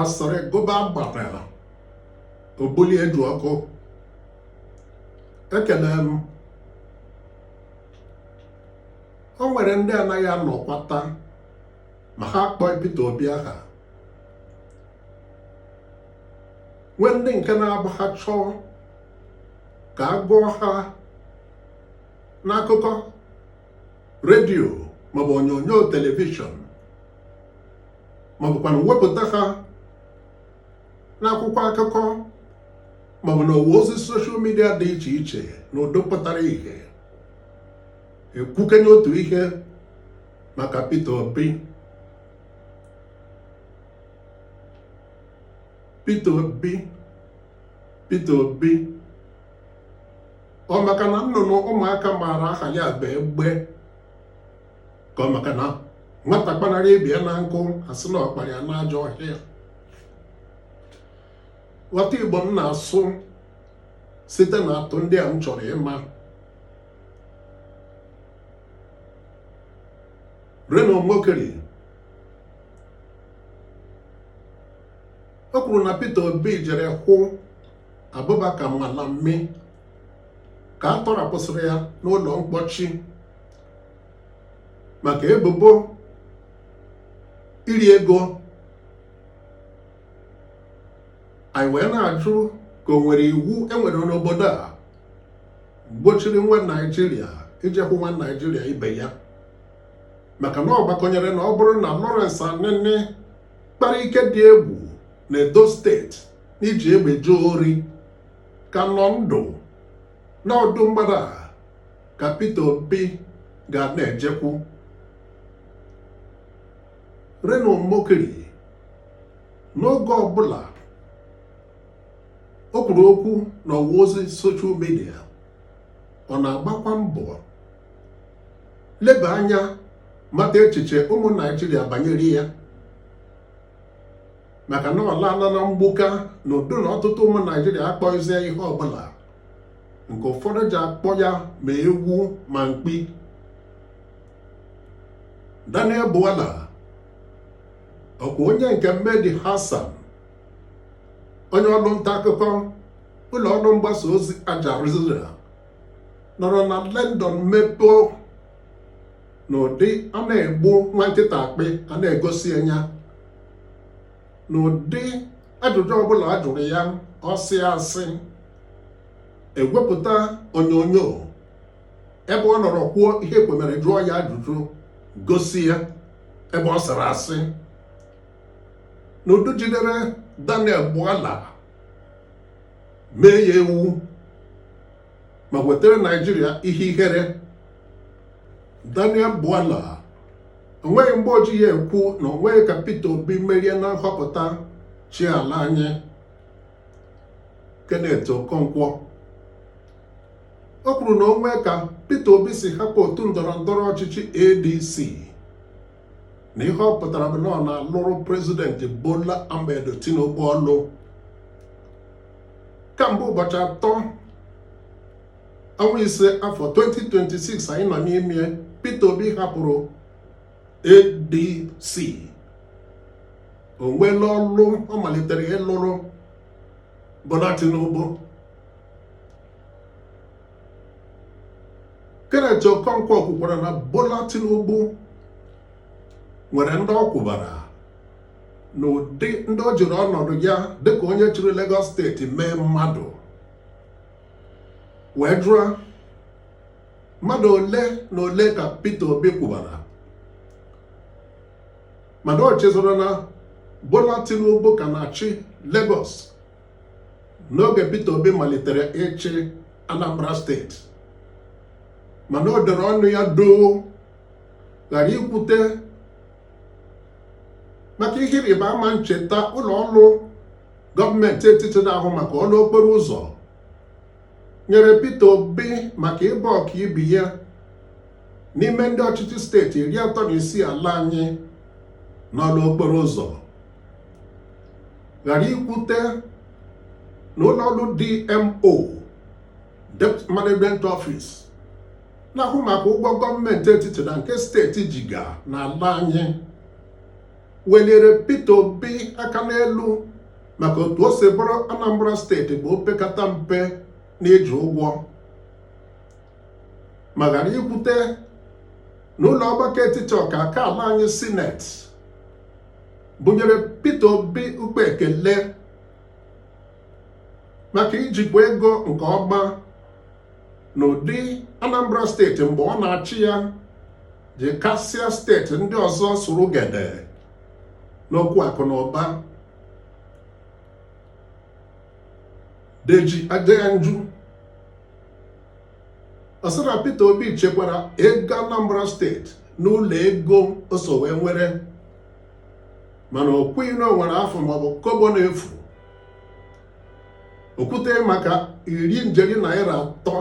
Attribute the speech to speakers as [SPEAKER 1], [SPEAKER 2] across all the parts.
[SPEAKER 1] asịrị gụba gbatara ogbuli edu ọkụ ekele m o nwere ndị anaghị anọkwata ma ha akpọghị Peter Obi aha nwee ndị nke na-abụ ha chọọ ka a gụọ ha n'akụkọ redio maọbụ onyonyo telivishọn maọbụkwana wepụta ha n'akwụkwọ akụkọ maọbụ na ọwa ozi soshal midia dị iche iche na ụdị pụtara ihe ekwukenye otu ihe maka Peter Obi Peter Obi Peter Obi ọ maka na nnụnụ ụmụaka maara aha ya bụ egbe ka ọ maka na nwata kpanarị ibe ya na nkụ a sị na ọ kpara ya n'ajọ ọhịa ghọta igbo m na-asụ site na atụ ndị a m chọrọ ịma Reno Omokri o kwuru na Peter Obi jere hụ Abubakar Malami ka a tọrapụsịrị ya n'ụlọ mkpọchi maka ebubo iri ego anyị wee na-ajụ ka o nwere iwu e nwere n'obodo a gbochiri nwa naijiria ijekwu nwa naijiria ibe ya maka na ọ gbakọnyere na ọ bụrụ na Lawrence Anini kpara ike dị egwu na Edo steeti n'iji egbe jee ori ka nọ ndụ na ọ ụdị mmadụ a ka Peter Obi ga na-ejekwu Reno Omokri n'oge ọbụla o kwuru okwu na ọwa ozi soshal midia ọ na-agbakwa mbọ leba anya mata echiche ụmụ naijiria banyere ya maka na ọ laala na mgbuka na ụdị na ọtụtụ ụmụ naijiria akpọghịzi ya ihe ọbụla nke ụfọdụ ji akpọ ya ma ewu ma mkpi Daniel Bwala ọ kwa onye nke Mehdi Hassan onye ọrụ nta akụkọ ụlọ ọrụ mgbasa ozi Aljazeera nọrọ na London mepee n'ụdị a na-egbu nwa nkịta akpị a na-egosi anya n'ụdị ajụjụ ọbụla a jụrụ ya ọ sịa asị e wepụta onyonyo ebe ọ nọrọ kwuo ihe e kwo mere jụọ ya ajụjụ gosi ya ebe ọ sịrị asị n'ụdị jidere Daniel Bwala mee ya ewu ma wetara Naijiria ihe ihere Daniel Bwala o nweghị mgbe o ji ya ekwu na o nweghị ka Peter Obi merie na nhọpụta ịchị ala anyị Kenneth Okonkwo o kwuru na o nwee ka Peter Obi si hapụ otu ndọrọ ndọrọ ọchịchị ADC na ihe ọ pụtara bụ na ọ na-alụrụ prezidenti Bola Ahmed Tinubu ọlụ kamgbe ụbọchị atọ ọnwa ise afọ 2026 anyị nọ n'ime Peter Obi hapụrụ ADC o nweela ọlụ ọ malitere ịlụrụ Bola Tinubu Kenneth Okonkwo kwukwara na Bola Tinubu nwere ndị ọ kwụbara na ụdị ndị o jiri ọnọdụ ya dịka onye chịrị Lagos steeti mee mmadụ wee jụọ mmadụ ole na ole ka Peter Obi kwụbara mana o chezoro na Bola Tinubu ka na-achị Lagos n'oge Peter Obi malitere ịchị Anambra steeti mana o dere ọnụ ya doo ghara ikwute maka ihe ịrịba ama ncheta ụlọ ọrụ gọọmenti etiti na-ahụ maka ọlụ okporo ụzọ nyere Peter Obi maka ịbụ ọkaibe ya n'ime ndị ọchịchị steeti iri atọ na isii ala anyị n'ọlụ okporo ụzọ ghara ikwute na ụlọ ọrụ DMO Debt Management Office na-ahụ maka ụgwọ gọọmenti etiti na nke steeti jiga n'ala anyị weliri Peter Obi aka n'elu maka otu o si bụrụ Anambra steeti bụ opekata mpe n'iji ụgwọ ma ghara ikwute na ụlọ ọgbakọ etiti ọka aka ala anyị sineti bunyere Peter Obi ụkpa ekele maka ijikwa ego nke ọma n'ụdị Anambra steeti mgbe ọ na-achị ya ji kasịa steeti ndị ọzọ sụrụ gede n'okwu akụ na ụba Deji Adeyanju ọ sị na Peter Obi chekwara ego Anambra steeti n'ụlọ ego o so wee nwere mana o kwughị na o nwere afụ maọbụ kobo na-efu o kwute maka iri njeri naira atọ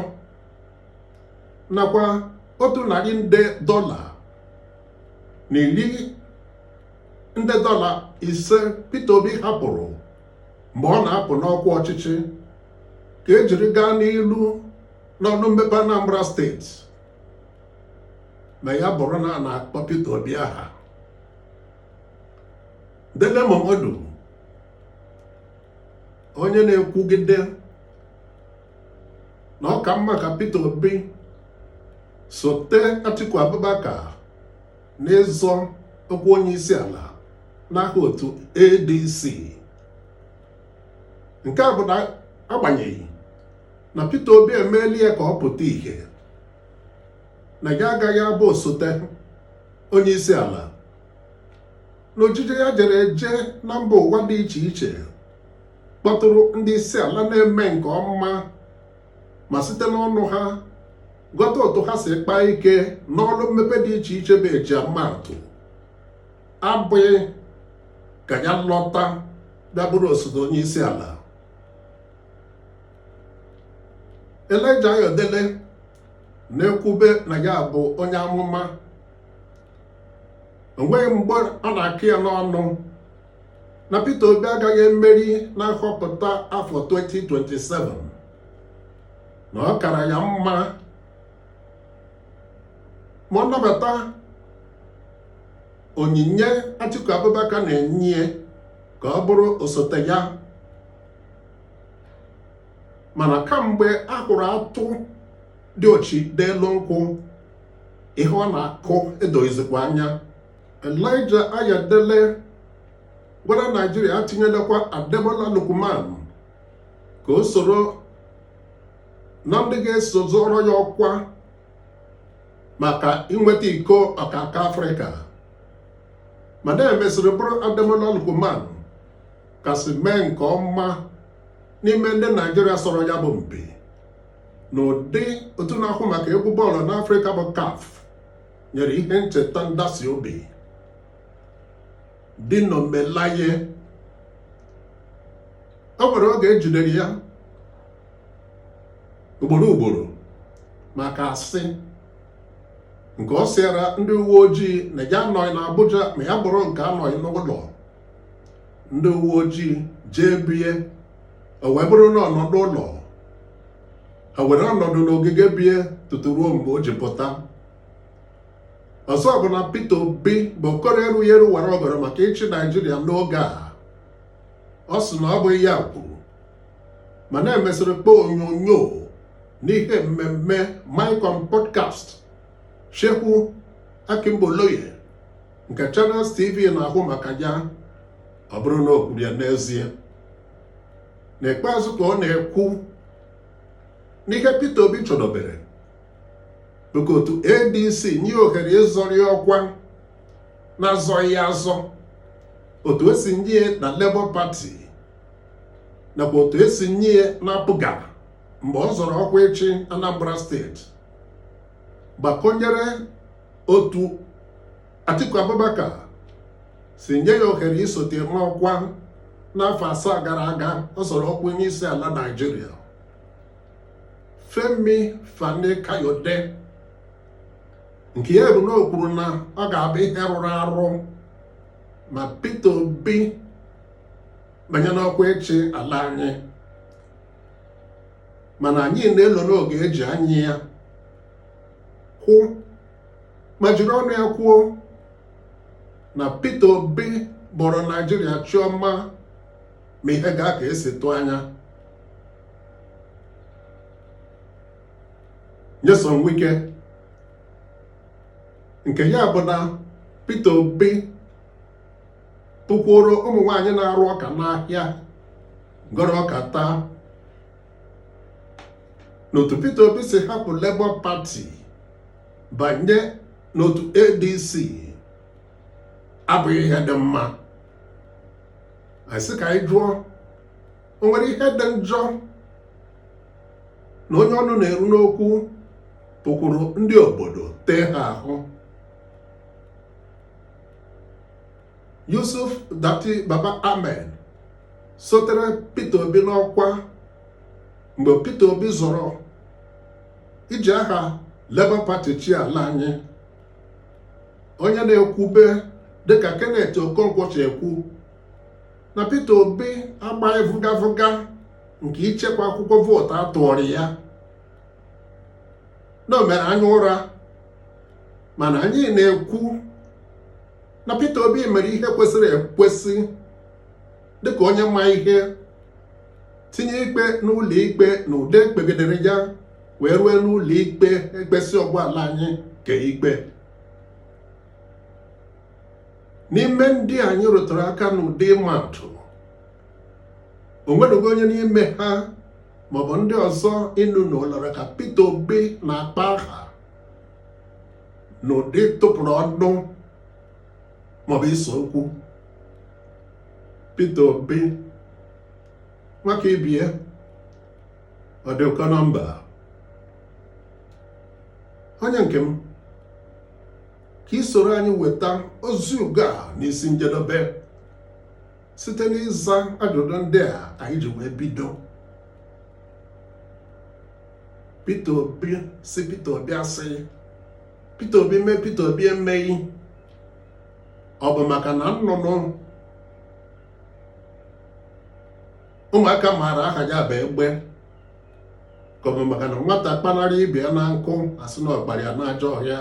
[SPEAKER 1] nakwa otu narị nde dọla na iri nde dọla ise Peter Obi hapụrụ mgbe ọ na-apụ n'ọkwa ọchịchị ka ejiri gaa n'iru n'ọrụ mmepe Anambra steeti ma ya bụrụ na a na-akpọ Peter Obi aha Dele Momodu onye na-ekwugide na ọ ka mma ka Peter Obi sote Atiku Abubakar n'ịzọ ọkwa onye isi ala n'aha otu ADC nke a bụ na agbanyeghị na Peter Obi emeela ya ka ọ pụta ìhè na ya agaghị abụ osote onye isi ala na ojije ya jere eje na mba ụwa dị iche iche kpọtụrụ ndị isi ala na-eme nke ọma ma site n'ọnụ ha ghọta otu ha si kpaa ike n'ọrụ mmepe dị iche iche bụ e ji ama atụ abụghị ka ya lọta bịa bụrụ osote onye isi ala Elijah Ayodele na-ekwube na ya bụ onye amụma o nweghị mgbe ọ na-akọ ya n'ọnụ na Peter Obi agaghị emeri na nhọpụta afọ 2027 na ọ kara ya mma ma ọ nabata onyinye Atiku Abubakar na-enye ka ọ bụrụ osote ya mana kamgbe a hụrụ atụ diochi n'elu nkwụ ihe ọ na-akụ edoghịzikwa anya Elijah Ayodele gwara Naijiria atinyelekwa Ademola Lookman ka o soro na ndị ga-eso zọọrọ ya ọkwa maka inweta iko ọkaka Afrịka mana emesịrị bụrụ Ademola Lookman kasị mee nke ọma n'ime ndị Naijiria sọrọ ya bụ mpi n'ụdị otu na-ahụ maka egwu bọọlụ n'Afrịka bụ CAF nyere ihe ncheta ntasi obi Dino Melaye o nwere oge ejidere ya ugboro ugboro maka asị nke ọ sịara ndị uwe ojii na ya anọghị n'Abuja ma ya bụrụ nke anọghị n'ụlọ ndị uwe ojii jee bie o wee bụrụ na ọ nọ n'ụlọ ha were ọnọdụ n'ogige bie tutu ruo mgbe o ji pụta ọzọ bụ na Peter Obi bụ okoro erughị eru wara ọgọdọ maka ịchị Naijiria n'oge a ọ sị na ọ bụghị ya kwuru mana emesịrị kpọọ onyonyo n'ihe mmemme Mic On podcast Seun Okinbaloye nke Channels TV na-ahụ maka ya ọ bụrụ na o kwuru ya n'ezie n'ikpeazụ ka ọ na-ekwu na ihe Peter Obi chọdobere bụ ka otu ADC nye ya ohere ịzọrọ ọkwa na-azọghị ya azọ otu esi nye ya na Labour Party nakwa otu esi nye ya na APGA mgbe ọ zọrọ ọkwa ịchị Anambra steeti gbakọnyere otu Atiku Abubakar si nye ya ohere isote n'ọkwa n'afọ asaa gara aga ọ zọrọ ọkwa onye isi ala Naijiria Femi Fani Kayode nke ya bụ na o kwuru na ọ ga-abụ ihe rụrụ arụ ma Peter Obi banye n'ọkwa ịchị ala anyị mana anyị na-elo n'oge eji anyị ya kwụ ma jiri ọnụ ya kwuo na Peter Obi bọrọ Naijiria chi ọma ma ihe gaa ka esi tụọ anya Nyesom Wike nke ya bụ na Peter Obi pụkwuoro ụmụ nwaanyị na-arụ ọka n'ahịa gọrọ ọka taa n'otu Peter Obi si hapụ Labour Party banye n'otu ADC abụghị ihe dị mma anyị sị ka anyị jụọ o nwere ihe dị njọ na onye ọnụ na-eru n'okwu pụkwuru ndị obodo tee ha ahụ Yusuf Datti Baba Ahmed sotere Peter Obi n'ọkwa mgbe Peter Obi zọrọ iji aha Labour Party chịa ala anyị onye na-ekwube dịka Kenneth Okonkwo si ekwu na Peter Obi agbaghị vụgavụga nke ichekwa akwụkwọ vootu a tụụrụ ya na o mere anya ụra mana anyị na-ekwu na Peter Obi mere ihe kwesịrị ekwesị dịka onye ma ihe tinye ikpe n'ụlọ ikpe na ude kpegidere ya wee rue n'ụlọ ikpe ekpesịa ọ gwụ ala anyị kee ikpe n'ime ndị anyị rụtụrụ aka n'ụdị ịma atụ o nwereghị onye n'ime ha maọbụ ndị ọzọ ịnụ na ụlọrọ ka Peter Obi na-akpa aha n'ụdị ịtụpụrụ ọnụ maọbụ ise okwu Peter Obi nwa ka ibe ya ọ dị ụkọ na mba onye nke m ka i soro anyị weta ozi ugo a n'isi njedebe site n'ịza ajụjụ ndị a anyị ji wee bido Peter Obi sị Peter Obi asị Peter Obi mee Peter Obi emeghị ọ bụ maka na nnụnụ ụmụaka maara aha ya bụ egbe ka ọ bụ maka na nwata kpanarị ibe ya na nkụ a sị na ọ kpara ya n'ajọ ọhịa